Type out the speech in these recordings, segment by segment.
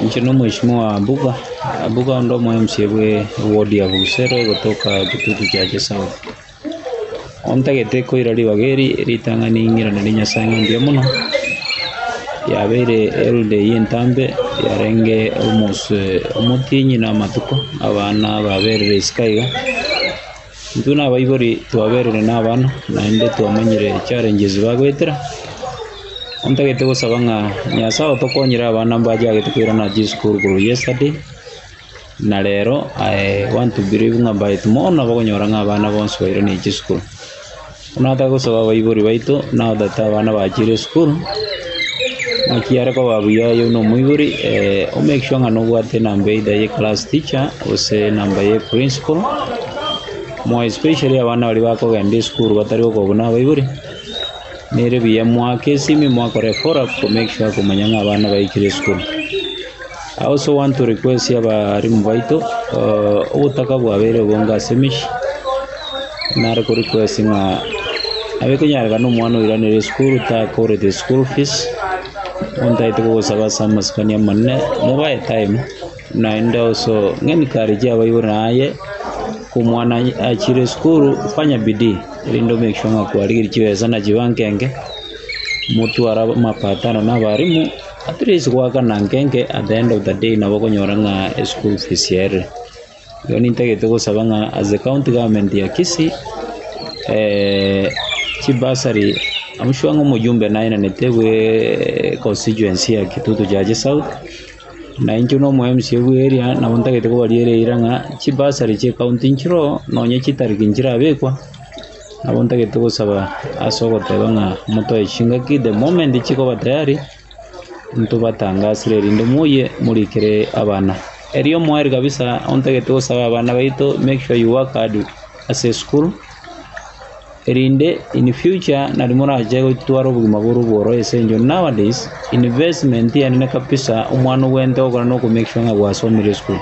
Inche na omweshimiwa wa Abuga, Abuga onde omo mca bwe ward ya Busero egotoka Kitutu Chache South. Ontagete koira ribaga eri ritang'ani ing'irane ri Nyasae ng'a mbuya mono, yabeire held eyio entambe yarenge almost omotienyi na amatuko abana baberire isiko iga. Intwe nabaibori twaberire nabana, naende twamanyire challenges bagoetera. Ntagete gosaba ng'a Nyasae otokonyere abana mbachagete koirana chisukuru korwa yesterday, na rero I want to believe ng'a by tomorrow nabagonyora ng'a abana bonsi bairanire chisukuru. Notake gosaba abaibori baito, nao tata abana bachire esukuru, naki are koba buya aye buna omoibori, o make sure ng'a nobwate enamba either ye class teacher, gose enamba ye principal, more especially abana baria bakogenda esukuru batari gokobu na abaibori, nere buya moake esimi, mokore follow up, ko make sure komanya ng'a abana baikire esukuru. Ase ogwancha ore kwesia abarimu baito, ogotaka bwabeire obonge ase emechie, nare kore kwesia ng'a abe konyarekana omwana oiranire esukuru takorete school fees, ontagete kogosaba ase amasikani amanene, mobe airtime, naende also ng'encourage abaibori naye, omwana aye achire esukuru, fanya bidii erinde o make sure ng'a kwarigeria chibesa nachiba nkenge, motware amapatano na abarimu. At least goaka na nkenke at the end of the day nabo okonyora ng'a eschool fees ere. Igo nintagete gosaba ng'a as the county government ya Kisii, chibursary, am sure ng'a omojumbe naenanete bwe constituency ya Kitutu Jaji South, na inche na omoMCA bwa area nabo ntagete kobariera eira ng'a chibursary chie county nchiroo, nonye chitariki nchirabekwa. Nabo ntagete gosaba ase ogoteba ng'a motoe chingaki the moment chikoba tayari, ntobatangasire erinde moyie morikere abana. Erio omoeri kabisa ontagete gosaba abana baito make sure you work hard ase esukuru, erinde in future nari morache gotwara obogima bore obworosia ase eng'encho nowadays investment yaane ne kabisa omwana ogwente ogokora na oko make sure ng'a gwasomire esukuru.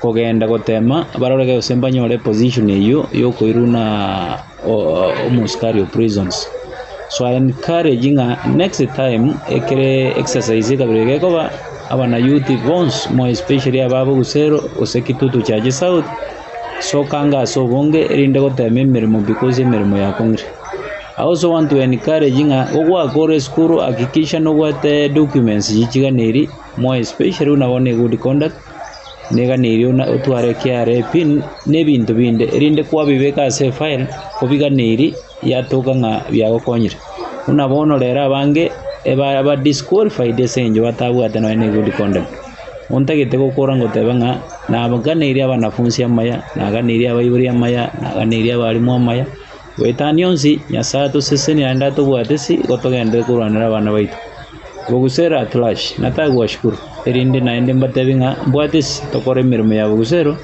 Kogenda gotema barore gose mbanyore position eyio yokoiruna omosukari o Prisons. So I encourage ng'a next time ekere exercise ekabere gekoba abanayouth bonsi more especially aba bogusero gose kitutu chiaye south sokanga ase obonge erinde gotema emeremo because emeremo yakong'ire. I also want to encourage ng'a ogwaka ore esukuru hakikisha nobwate documents chichiganeri more especially buna bono egood conduct Negani erio otware ekiara ebi na ebinto binde, erinde kwabibeka ase efile kobigana eria yatoka ng'a biagokonyire. Buna bono rero abange ba disqualified ase eng'encho batabwate nonya ne good conduct. Ontagete gokora goteba ng'a naganeirie abanafunsi amaya, naganeirie abaibori amaya, naganeirie abalimu amaya. Goetania onsi, Nyasae atosesenire naende atobwate ase gotogenderera korwanera abana baito. Bogusero at large, natari gwashukuru, erinde naende mbatebie ng'a mbwate ase tokore emeremo ya bogusero,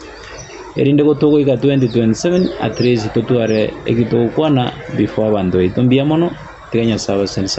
erinde gotogoika 2027 at least totware eki togokwana before abanto baito. Mbuya mono, tiga Nyasae abaseseni sana.